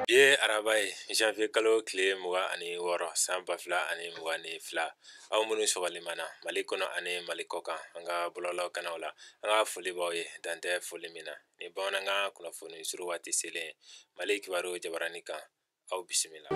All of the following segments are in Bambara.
Bi ye araba ye janvier kalo tile mugan ani wɔɔrɔ san ba fila ani mugan ni fila aw minnu sɔgɔlen b'an na mali kɔnɔ ani mali kɔkan an ka bɔlɔlɔ kanaw la an ka foli b'aw ye dan tɛ foli min na ni bamanankan kunnafoni suru waati selen mali kibaru jabarani kan aw bisimila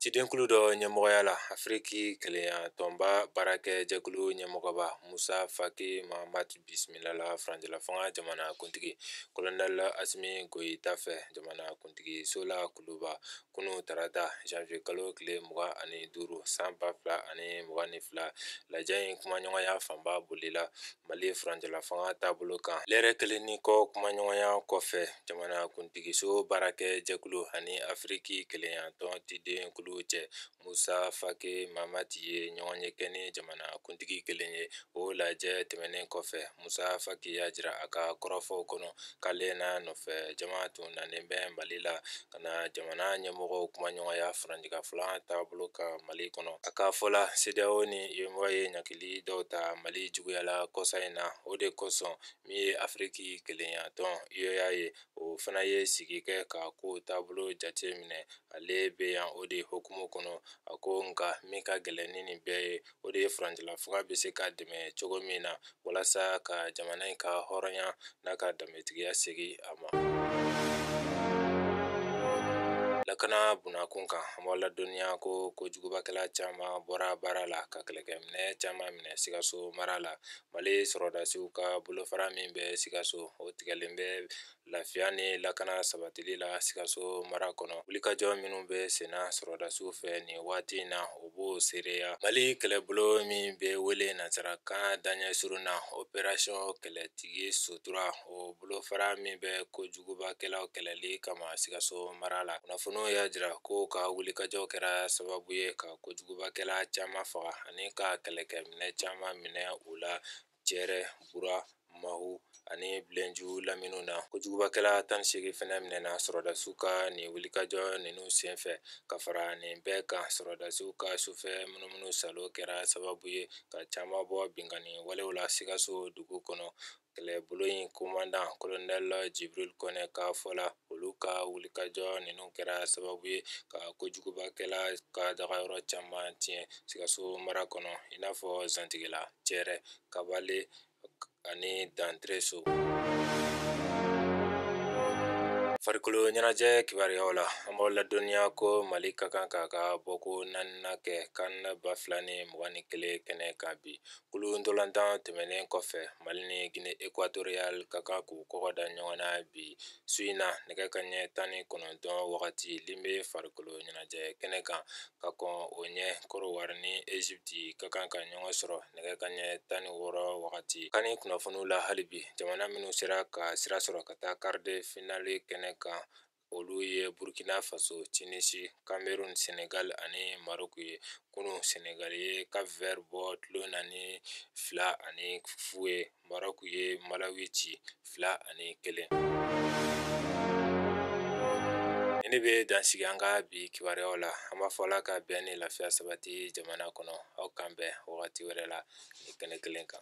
cidenkulu dɔ ɲɛmɔgɔya la afiriki kelenya tɔnba baarakɛ jɛkulu ɲɛmɔgɔba musa faki mahamat bisimilala furancɛla fanga jamana kuntigi kolonɛl asimi goyita fɛ jamana kuntigiso la kuluba kunun tarata janvier kalo tile mugan ani duuru san ba fila ani mugan ni fila lajɛ in kumaɲɔgɔnya fanba bolila mali furancɛla fanga taabolo kan lɛrɛ kelen ni kɔ kumaɲɔgɔnya kɔfɛ jamana kuntigiso baarakɛ jɛkulu ani afiriki kelenya tɔn cidenkulu cɛ Musa Faki Mahamat ye ɲɔgɔnye kɛ ni jamana kuntigi kelen ye o lajɛ tɛmɛnen kɔfɛ Musa Faki y'a jira a ka kɔrɔfɔw kɔnɔ k'ale n'a nɔfɛ jama tun nanen bɛ Mali la ka na jamana ɲɛmɔgɔw kumaɲɔgɔnya furancɛla fanga taabolo kan Mali kɔnɔ. A ka fɔ la, CEDEAO ni UEMOA ye ɲangili dɔw ta Mali juguya la kɔsa in na, o de kosɔn min ye Afiriki kelenya tɔn, UA, ye, o fana ye sigi kɛ ka kow taabolo jate minɛ ale bɛ yan o de hukumu kɔnɔ a ko nka min ka gɛlɛn ni nin bɛɛ ye o de ye furancɛla fanga bɛ se ka dɛmɛ cogo min na walasa ka jamana in ka hɔrɔnya n'a ka danbetigiya segin a ma lakana bunda kun kan an b'a ladɔnniya ko kojugubakɛla caman bɔra baara la ka kɛlɛkɛminɛ caman minɛ sikaso mara la mali sɔrɔdasiw ka bolofara min bɛ sikaso o tigɛlen bɛ lafiya ni lakana sabatili la sikaso mara kɔnɔ wulikajɔ minnu bɛ senna sɔrɔdasiw fɛ nin waati in na o b'o seereya mali kɛlɛbolo min bɛ wele nansarakan daɲɛ surun na operasiyɔn kɛlɛtigi sutura o bolofara min bɛ kojugubakɛlaw kɛlɛli kama sikaso mara la kunnafoniw y'a jira k'u ka wulikajɔ kɛra sababu ye ka kojugubakɛla caman faga ani ka kɛlɛkɛminɛ caman minɛ u la cɛrɛ bura mahu ani bilenju laminiw na kojugubakɛla tan ni segin fɛnɛ minɛna sɔrɔdasiw ka nin wulikajɔ ninnu senfɛ ka fara nin bɛɛ kan sɔrɔdasiw ka sufɛ munumunu saalo kɛra sababu ye ka caman bɔ binkanni walew la sikaso dugu kɔnɔ kɛlɛbolo in komandan kolonɛl jibril kɔnɛ ka fɔ la olu ka wulikajɔ ninnu kɛra sababu ye ka kojugubakɛla ka dagayɔrɔ caman tiɲɛ sikaso mara kɔnɔ i n'a fɔ zantigila cɛrɛ kabale ani dantreso farikolo ɲɛnajɛ kibaruyaw la an b'aw ladɔnniya ko mali ka kan k'a ka bɔko naaninan kɛ kan ba fila ni mugan ni kelen kɛnɛ kan bi kulu ntolatan tɛmɛnen kɔfɛ mali ni gine ekwatoriyal ka kan k'u kɔgɔ da ɲɔgɔn na bi su in na nɛgɛ kanɲɛ tan ni kɔnɔntɔn wagati limbe farikolo ɲɛnajɛ kɛnɛ kan ka kɔn o ɲɛ kɔdiwari ni ezipiti ka kan ka ɲɔgɔn sɔrɔ nɛgɛ kanɲɛ tan ni wɔɔrɔ wagati kani kunnafoniw la hali bi jamana minnu sera ka sira sɔrɔ ka taa kari de finali kɛnɛ kan olu ye burukina faso tinizi kameruni sɛnɛgali ani maroku ye kunun sɛnɛgali ye kap vɛri bɔ tulon na ni fila ani fu ye Maroku ye malawi ci fila ani kelen ne bɛ dansigi an ka bi kibaruyaw la an b'a fɔ ala ka bɛn ni lafiya sabati jamana kɔnɔ aw k'an bɛn wagati wɛrɛ la nin kɛnɛ kelen kan